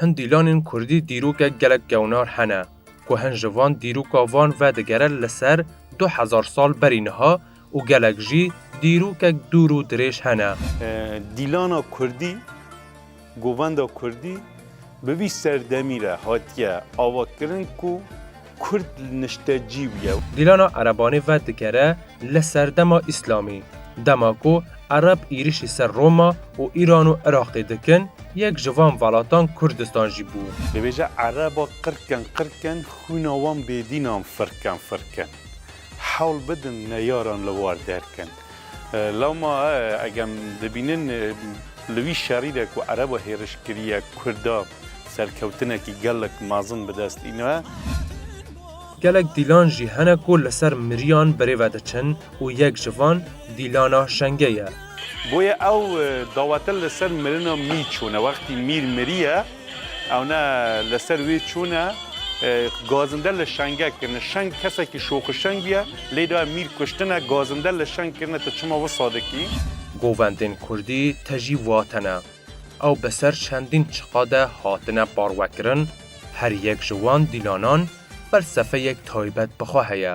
Hin dîlanên kurdî dîrokek gelek gewnar hene ku hin ji van dîroka van ve digere li ser du hezar sal berî niha û gelek jî dîrokek dûr û dirêj hene. Dîlana kurdî. Govenda Kurdî bi vî serdemî re hatiye avakirin ku Kurd niştecî bûye. Dîlana Erebanê ve digere li serdema Îslamî. Dema ku Ereb êrişî ser Roma û Îran û Iraqê dikin, yek ji van velatan Kurdistan jî bû. Dibêje Ereba qirkin qirkin xwîna wan bêdînan firkin firkin. Hewl bidin neyaran li war derkin. Lewma eg em dibînin li wî şerî de ku ereb we hêriş kiriye kurda serkewtinekî gelek mezin bi dest îne. Gelek dîlan jî hene ku li ser miriyan berê ve diçin û yek ji van dîlana Şenge ye. Boye ew dawetin li ser mirina mî çûne wextî mîr miriye. Ewne li ser wî çûne gazinde li şenge kirine. Şeng kesekî şoxişeng bûye, lê daye mîr kuştine, gazinde li şeng kirine tu çima wisa dikî? Govendên Kurdî te jî vatene. Ew bi ser çendîn çiqa de hatine parwekirin, her yek ji wan dîlanan felsefeyek taybet bi xwe heye.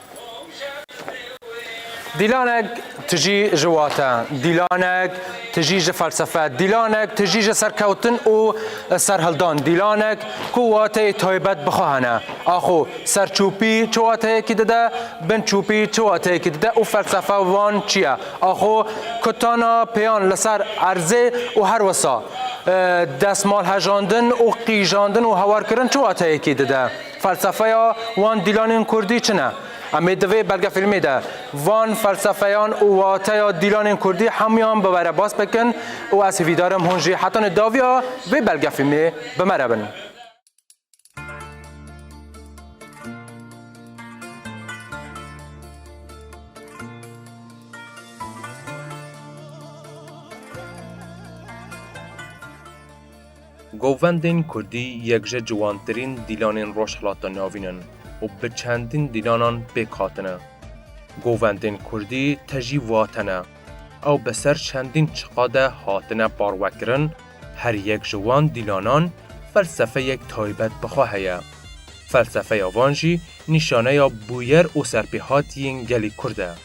Dîlanek tijî ji wate, dîlanek tijî ji felsefe, dîlanek tijî ji serkewtin û serhildan, dîlanek ku wateyê taybet bi xwe hene. Axo serçûpî çi wateyekî dide, binçûpî çi wateyekî dide û felsefa wan çi ye? Axo kutana pêyan li ser erzê û her wisa destmalhejandin û qîjandin û hawarkirin çi wateyekî dide? Felsefeya wan dîlanên kurdî çi ne? Em ê di vê belgefîlmê de van felsefeyan û wateya dîlanên kurdî hemûyan bi we re bas bikin û ez hîvîdar im hûn jî heta nê daviya vê belgefîlmê bi me re bin. Govendên Kurdî yek ji ciwantirîn dîlanên Rojhilata Navîn in û bi çendîn dîlanan pêk hatine. Govendên Kurdî te jî vate ne. Ew bi ser çendîn çiqa de hatine parwekirin, her yek ji wan dîlanan felsefeyek taybet bi xwe heye. Felsefeya van jî nîşaneya bûyer û serpêhatiyên gelê Kurd e.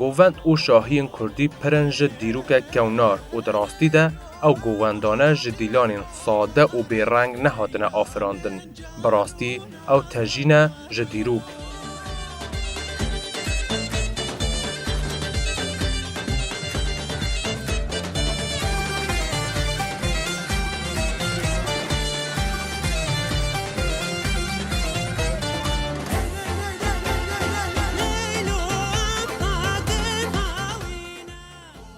Govend û şahiyên kurdî pirin ji dîrokek kewnar û di rastî de ew govendane ji dîlanên sade û bêreng nehatine afirandin. Bi rastî ew tejî ne ji dîrok.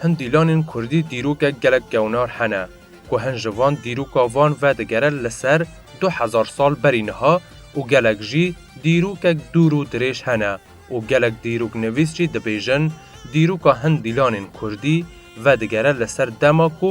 Hin dîlanên kurdî dîrokek gelek gewnar hene ku hin ji van dîroka van vedigere li ser du hezar sal berî niha û gelek jî dîrokek dûr û dirêj hene û gelek dîroknivîs jî dibêjin dîroka hin dîlanên kurdî vedigere li ser dema ku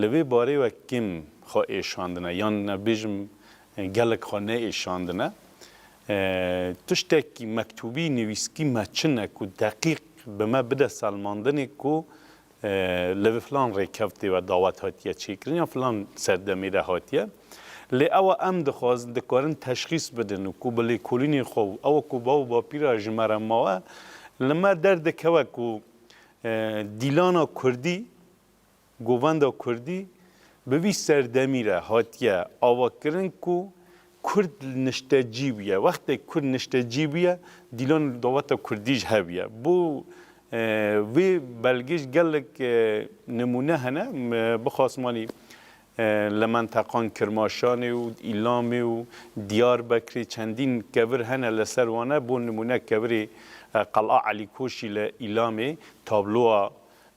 Li vê barê we kêm xwe êşandine yan ez bêjim gelek xwe neêşandine. Tiştekî mektûbî nivîskî me çi ne ku deqîq bi me bide selmandinê ku li vi filan rêkevtê ve dawet hatiye çêkirin yan filan serdemê de hatiye. Lê ewa em dixwazin dikarin teşxîs bidin û ku bi lêkolînên xwe û ewa ku bav û bapîra ji me re mawe li me derdikewe ku dîlana kurdî Govenda Kurdî bi vî serdemî re hatiye avakirin ku Kurd niştecî bûye. Wextê Kurd niştecî bûye, dîlan li daweta Kurdî jî hebûye. Bo vê belgê jî gelek nimûne hene. Bixwasim anî li menteqan Kirmaşanê û Îlamê û Diyarbekirê çendîn kevir hene. Li ser wan e bo nimûne kevirê Qel'a Elî Koşî li Îlamê tabloa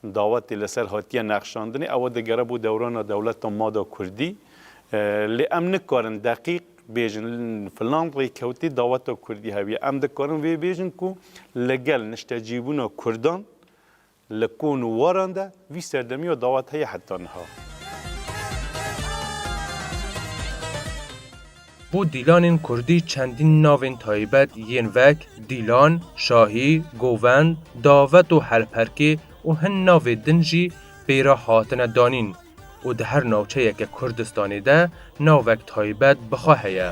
Dawetê li ser hatiye nexşandinê ew digere bo dewrana dewleta mada kurdî. Lê em nikarin deqîq bêjin filan rêkewtê daweta kurdî hebiye. Em dikarin vê bêjin ku li gel niştecîbûna kurdan li kon û waran de vî serdemiya dawet heye heta niha. Bo dîlanên kurdî çendîn navên taybet yên vek, Dîlan, Şahî, Govend, Davet û Helperkê û hin navê din jî pê re hatine danîn û di her navçeyeke Kurdistanê de navek taybet bi xwe heye.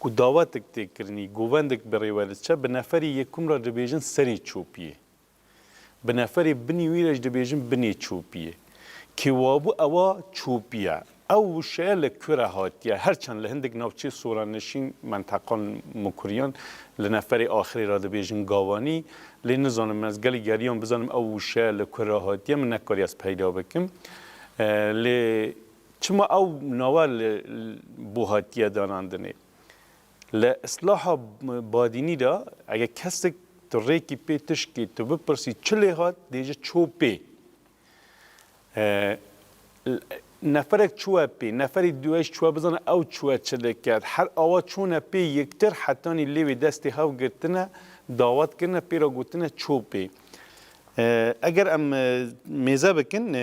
ku dawetek tê kirinî govendek bi rê we diçe bi neferê yekum re dibêjin serê çopiyê. Bi neferê binî wî re jî dibêjin binê çopiyê. Kê wabû ewa çopî ye. Ew wişeya li ku re hatiye her çend li hindik navçeyê soranişîn menteqan mukuriyan li neferê axirê re dibêjin gawanî lê nizanim ez gelê geriyan bizanim ew wişeya li ku re hatiye min nekariye ez peyda bikim lê Çima ew nava li bo hatiye danandinê? Li îslaha badînî de eger kesek tu rêkî pê tişkê tu bipirsî çi lê hat dê ji ço pê. Neferek çûye pê, neferê dûye jî çûye bizane ew çûye çi li ket. Her awa çûne pê yektir hetanî lê wê destê hev girtine dawet kirine pê re gotine ço pê. Eger em mêze bikin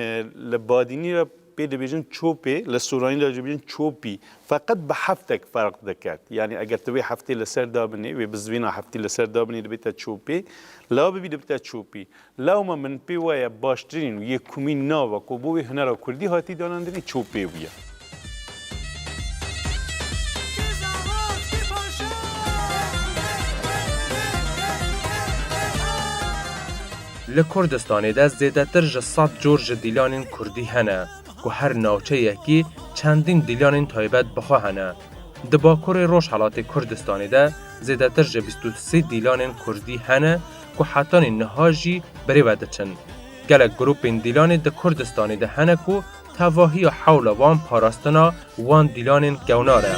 li badînî re pê dibêjin çopê li soranî de dibêjin çopî feqet bi heftek ferq dikert. Yanî eger tu vê heftê li ser dabinê wê bi zivîna heftê li ser dabinê dibête çopê la bibî dibite çopî. Lewma min pê waye baştirîn û yê kumîn nava ku bo wê hunera kurdî hatî danandinê çopê bûye. Li Kurdistanê de zêdetir ji sed cor ji dîlanên kurdî hene ku her navçeyekî çendîn dîlanên taybet bi xwe hene. Di Bakurê Rojhelatê Kurdistanê de zêdetir ji bîst û sê dîlanên kurdî hene ku hetanî niha jî birêve diçin. Gelek grûpên dîlanê di Kurdistanê de hene ku Tevahiya hewla wan parastina wan dîlanên kewnar e.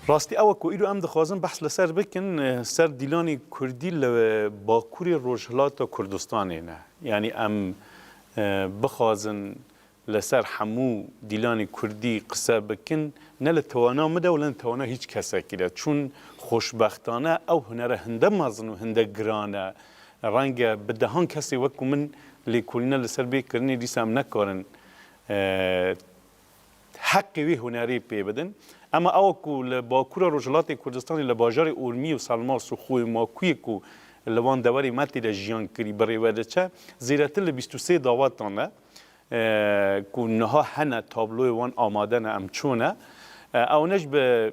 Rastî ew e ku îro em dixwazin behs li ser bikin ser dîlanê kurdî li Bakurê Rojhilata Kurdistanê ne. Yanî em bixwazin Li ser hemû dîlanê kurdî qise bikin ne li tewana min de û ne li tewana hîç kesekî de. Çûn xoşbextane ew hunere hinde mezin û hinde giran e. Renge bi dehan kesê wekû min lêkolîna li ser bê kirinê dîsa em nekarin heqê wê hunerê pê bidin. Ema ewa ku li bakûra rojhilatê Kurdistanê li bajarê Urmî û Salmas û Xûyê Makûyê ku li wan dewerê me tê de jiyan kirî birêve diçe zêdetir li bîst û sê dawetan e. ku niha hene tabloyê wan amade ne em çûne ewnij bi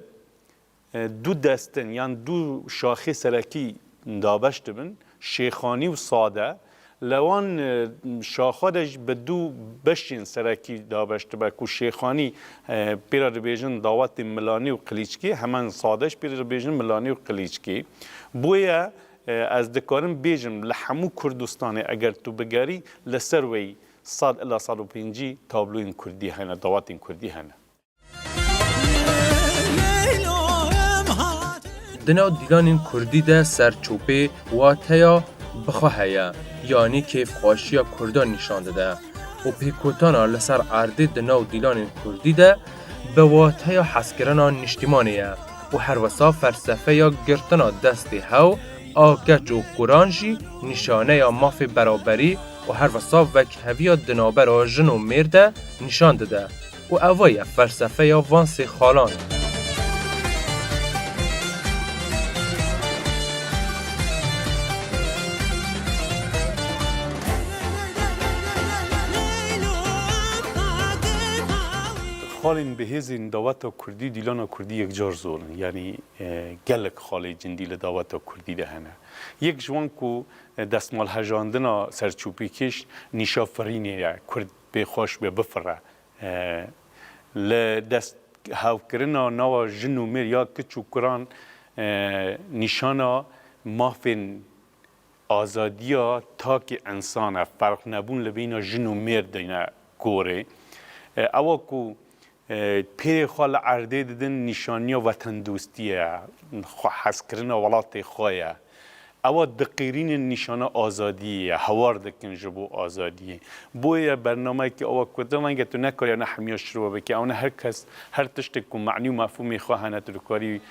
du destin yan du şaxê serekî dabeş dibin şêxanî û sade li wan şaxa de jî bi du beşên serekî dabeş dibe ku şêxanî pê re dibêjin dawetên milanî û qilîçkî heman sade jî pê re dibêjin milanî û qilîçkî bûye Ez dikarim bêjim li hemû Kurdistanê eger tu bigerî li ser wê sed ila sed û pêncî tabloyên Kurdî hene, dawatên Kurdî hene. Di nav dîlanên Kurdî de serçopê wateya bixwe heye, yanî kêfxweşiya Kurdan nîşan dide û pêkotana li ser erdê di nav dîlanên Kurdî de, bi wateya hezkirina niştîmanê ye û herwisa felsefeya girtina destê hew a keç û kuran jî nîşaneya mafê beraberî û herwisa wekheviya di navbera jin û mêr de nîşan dide û eva ye felsefeya van sê xalan. Xalên bihêzên daweta kurdî dîlana kurdî yekcar zor in. Yanî gelek xalê cindî li daweta kurdî de hene. Yek ji wan ku destmalhejandina serçûpîkêş nîşa firînê ye, kurd pê xweş be bifire. Li dest hewkirina nawa jin û mêr ya kiç û kuran nîşana mafên Azadiya takê însan e, ferqnebûn li beyna jin û mêrdê ne gorê. Ewa ku pêrê xwe li erdê didin nîşaniya wetendostiyê ye, xwehezkirina welatê xwe ye. Ewa diqîrînin nîşana azadiyê ye, hewar dikin ji bo azadiyê. Boye bernameyekî ewa ku tu renge tu nekariya ne hemiya şirove bikî, ewne her kes her tiştê ku manî û mefhûmê xwe hene tu dikarî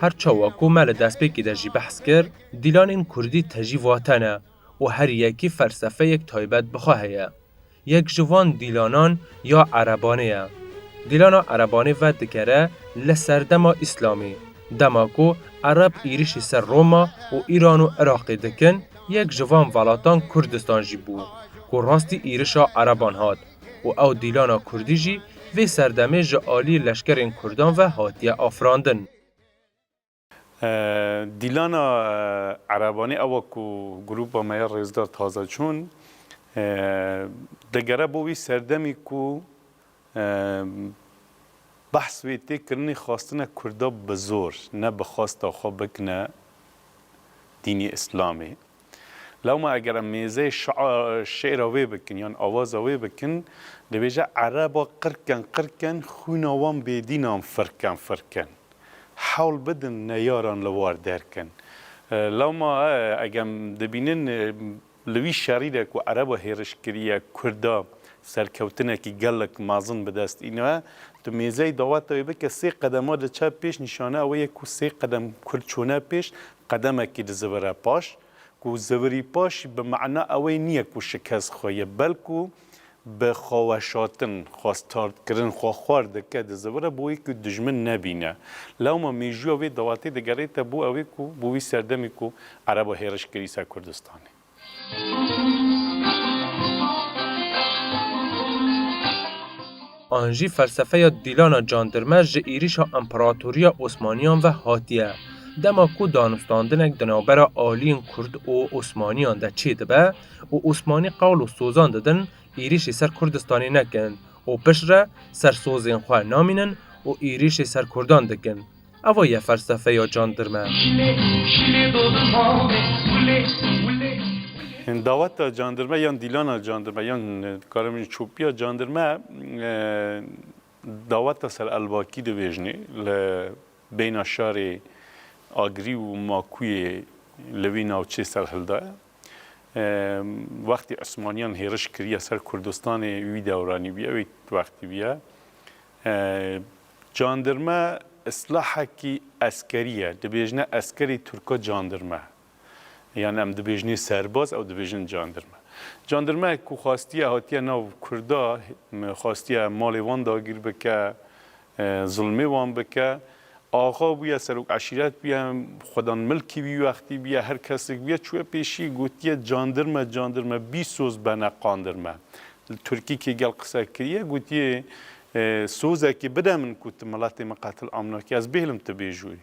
Her çawa ku me li destpêkê de jî behs kir, dîlanên kurdî tejî vate ne û her yekî felsefeyek taybet bi xwe heye. Yek ji van dîlanan ya erebanê ye. Dîlana erebanê vedikere li serdema îslamî, dema ku ereb êrîşî ser Roma û Îran û Iraqê dikin, yek ji van velatan Kurdistan jî bû ku rastî êrişa ereban hat. û ew dîlana kurdî jî vê serdemê ji aliyê leşkerên kurdan ve hatiye afirandin. Dîlana erebanê ewa ku grûpa me ya Rêzdar Tazeçûn digere bo wî serdemî ku behs wê tê kirinê xwastine kurda bi zor ne bi xwesta xwe bikine dînê îslamê. Lewma eger em mêzeyê şi'ra wê bikin yan awaza wê bikin, dibêje ereba qirken qirken xwîna wan bêdînan firken firken. Hewl bidin neyaran li war derkin. Lewma egem dibînin li wî şerî de ku ereba hêriş kiriye kurda serkewtinekî gelek mezin bi dest îniye, tu mêzeyê daweta wê bike sê qedema diçe pêş nîşane ew ye ku sê qedem kurd çûne pêş Qedemekî di zivire paş, ku zivirî paş bi mana ewê niye ku şikes xwe ye, belku bi xweweşatin, xwestardkirin xwe xwar dike di zivire bo wê ku dijmin nebîne. Lewma mêjûya vê delatê digerête bo ewê ku bo wî serdemê ku ereba hêriş kirî ser Kurdistanê. An jî felsefeya Dîlana Candirme ji êrîşa Împeratoriya Osmaniyan ve hatiye. Dema ku danûstandinek di navbera aliyên Kurd û Osmaniyan de çêdibe û Osmanî qewl û sozan didin êrîşî ser Kurdistanê nekin û piştre ser sozên xwe namînin û êrîşî ser Kurdan dikin, Ava ye felsefeya candirme. Daweta candirme yan dîlana candirme yan dikarim bînin çopîya candirme daweta ser Elbakî dibêjnê li beyna şarê Agirî û Makûyê li vî navçeyê serhilda ye. Wextê Osmaniyan hêriş kiriye ser Kurdistanê wî dewranî bûye wê wextî bûye. Candirme îslahekî eskerî ye. Dibêjne eskerî tirko candirme. Yan em dibêjnê serbaz ew dibêjin candirme. Candirmeyek ku xwestiye hatiye nav kurda xwestiye malê wan dagîr bike, zilmê wan bike, axa bûye serok eşîret bûye, xwedan milkî wî wextî bûye, her kesik bûye çûye pêşî gotiye candirme candirme bîsoz bene qandirme. Li tirkî kê gel qise kirîye gotiye E, sozekî bide min ku tu miletê min qetil amnakî, ez bêhlim tu bêjûyî.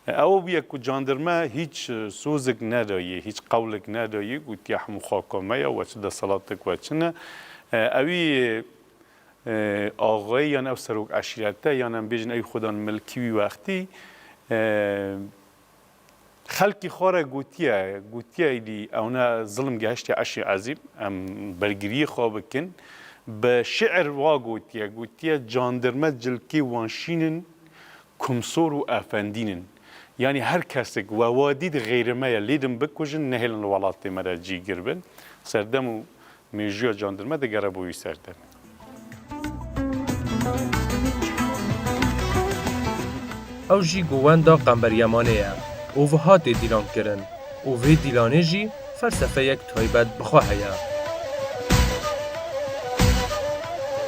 E, ew bûye ku candirme hîç sozek nedayî, hîç qewlek nedayî, gotiye hemû xaka me ye, we çi desalatek we çi ne. E, ewî e, axayê yan ew serok eşîrete yan em bêjin ewî xwedan milkî wî wextî e, Xelkî xwe re gotiye, gotiye êdî ewne zilm gehiştiye eşî ezîm, em bergiriyê xwe bikin. Bi şîir wa gotiye, gotiye candirme cilkê wan şîn in, kumsor û efendîn in. Yanî her kesik we wa dît xêrime ye lêdin bikujin, nehêlin li welatê me re cîgir bin. Serdem û Mîjûya candirme digere bo wî ser demê. Ew jî ku wenda Qemberyamanê ye û wiha tê dîlankirin û vê dîlanê jî felsefeyek taybet bi xwe heye.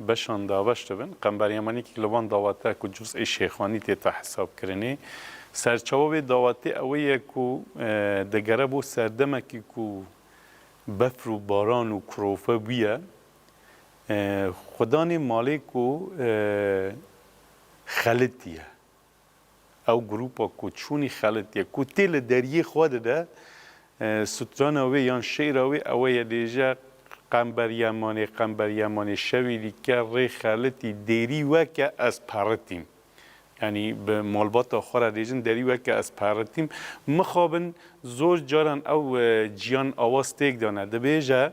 Beşan daweş dibin. Qember Yemenîkî li van dawete ku cuz'ê Şêxanî têta hesabkirinê. Serçawa wê dawetê ewê ye ku digere bo serdemekî ku befr û baran û kurofe bûye. Xwe danê malê ku xelitî ye. Ew grûpa ku çûnî xelitiye, ku tê li deriyê xwe dide, strana wê yan şîra wê ew e ye dêje, Qember Yemanê, Qember Yemanê, şewî dîke rê xelitî, dêrî weke ez peritîm. Yanî bi malbata xwe re dêjin, derî weke ez peritîm. Mixabin zor caran ew ciyan awa stêk dane. Dibêje.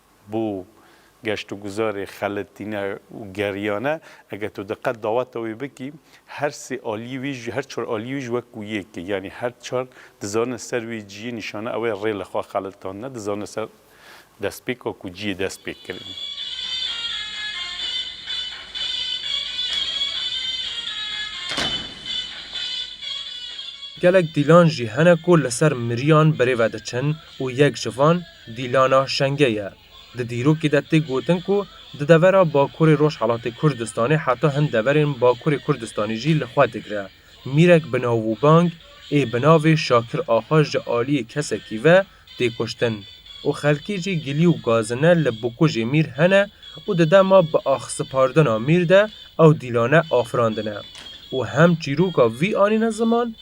Bo geştûguzarê xeletîne û geriyane eger tu diqet daweta wê bikî, her sê aliyê wî jî, her çar aliyê wî jî wek ku yek e. Yanî her çar dizane ser wê ciyê nîşana ew e rê li xwe xeletandine, dizane ser destpêka ku ciyê dest pê kirin. Gelek dîlan jî hene ku li ser miriyan birêve diçin û yek ji van, Dîlana Şenge ye. Di dîrokê de tê gotin ku di devera Bakurê Rojhelatê Kurdistanê heta hin deverên Bakurê Kurdistanê jî li xwe digre. Mîrek bi nav û bang ê bi navê Şakir Axa ji aliyê kesekî ve tê kuştin û xelkê jî gilî û gazine li bikujê Mîr hene û di dema biaxsipardina Mîr de ew dîlane afirandine û hem çîroka vî anîne ziman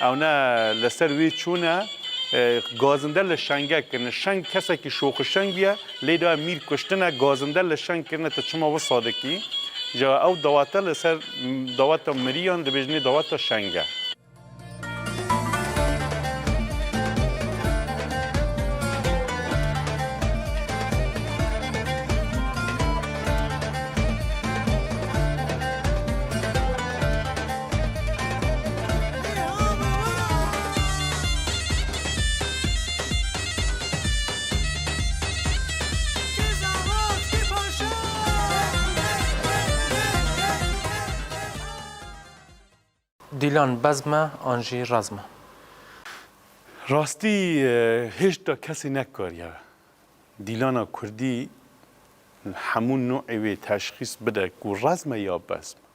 Ewne li ser wî çûne gazinde li şenge kirine. Şeng kesekî şoxişeng ye, lê daye mîr kuştine, gazinde li şeng kirine tu çima wisa dikî? Ca ew dawete li ser daweta miriyan dibêjinê daweta şeng e. Dîlan bezm e an jî rezm e. Rastî hêşta kesî nekariye dîlana kurdî hemû nû'ê wê teşxîs bide ku rezm e ya bezm e.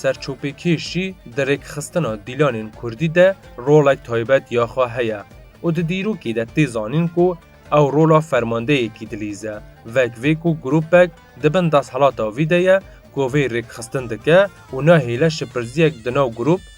Serçopêkêşî di rêkxistina dîlanên kurdî de rolek taybet ya xwe heye û di dîrokê de tê zanîn ku ew rola fermandeyekî dilîze. Vek vê ku grûpek di bin desthilata vî de ye ku vê rêkxistin dike û nahêle şipirziyek di nav grûp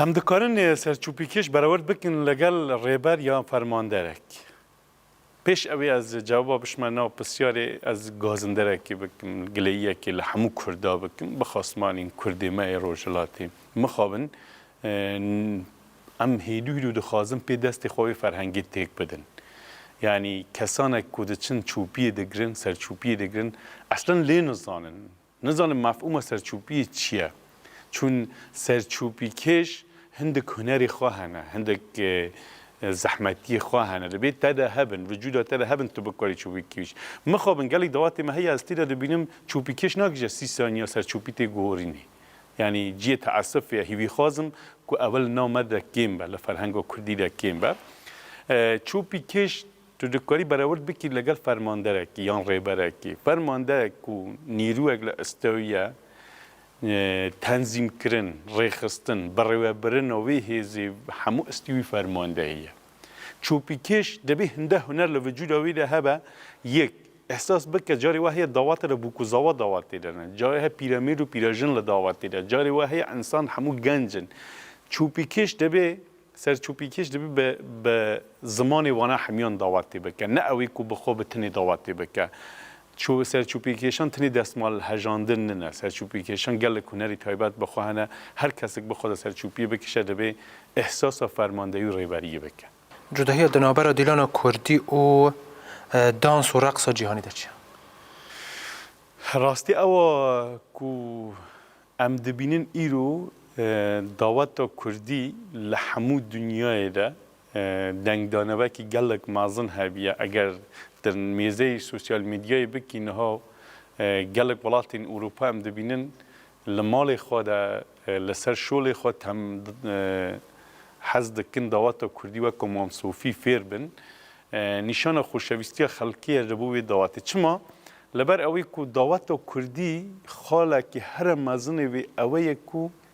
Hem dikarin serçûpîkêş berewerd bikin legel rêber yan fermanderek. Pêş ewê ez cewaba bişme nav pisyarê ez gazinderekê bikim, gileyiyekê li hemû kurda bikim, bi xasmanên kurdê me yê rojhilatê mixabin Em hêdû hîdû dixwazin pê destê xwe wê ferhengê têk bidin. Yanî kesanek ku diçin çûpiyê digirin, serçûpiyê digirin eslan lê nizanin. Nizanin mefhûma serçûpiyê çi ye. Çûn serçûpîkêş hindik hunerê xwe hene, hindik zehmetiyê xwe hene. Dibê te de hebin, vücuda te de hebin tu bikarî çûpîkêş. Mixabin gelek dawatê me heye ez tê de dibînim çûpîkêş nakije sî saniya serçûpî tê guhorînê. Yanî ciyê teesufê ye hîvî xwazim ku ewil nav me de kêm be li ferhenga kurdî de kêm be. Çopî kêş tu dikarî berewird bikî legel fermanderekî yan rêberekî. Fermanderek ku nîrûyek li istew ye tenzîmkirin, rêxistin, birêwebirina wê hêzê hemû istî wî fermandehî ye. Çopîkêş dibê hinde huner li vücuda wî de hebe, yek, ehsas bike, carê we heye dawate de bûk û zawa dawat tê de ne, carê he pîremêr û pîrejin li dawat tê de, carê we heye insan hemû genc in. Çopîkêş dibê, serçopîkêş dibê bi bi zimanê wana hemiyan dawat tê bike, ne ewê ku bi xwe bi tinê dawat tê bike. Serçûpîkêşan tenê destmal hejandin nine. Serçûpîkêşan gelek hunerî taybet bi xwe hene. Her kesik bi xwe de serçûpiyê bikişe divê îhsasa fermandeyî û rêberiyê bike. Cudahiya di navbera dîlana kurdî û dans û reqsa cîhanî de çi ye? Rastî ew a ku em dibînin îro daweta kurdî li hemû dinyayê de Dengdana wekî gelek mezin hebûye. Eger di mêzeyê sosyal medyayê bikî niha gelek welatên Ewropa em dibînin li malê xwe de li ser şolê xwe tem hez dikin dawata kurdî wek ku Mam Sofî fêr bin. Nîşana xoşewîstiya xelkê ye ji bo wê dawatê. Çima? Li ber ewê ku dawata kurdî xalekî here mezinê wê ewe ye ku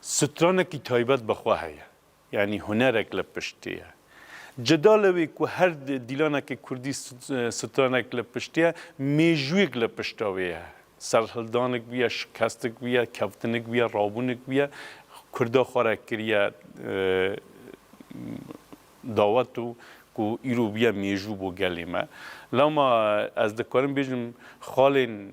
Stranekî taybet bi xwe heye, yanî hunerek li piştî ye. Cuda li wê ku her dîlanekî kurdî stranek li piştî ye, mêjûyek li pişta wê ye. Serhildanik bûye, şikestik bûye, kevtinik bûye, rabûnik bûye, kurda xwe re kiriye dawet û ku îro bûye mêjû bo gelê me. Lama ez dikarim bêjim xalên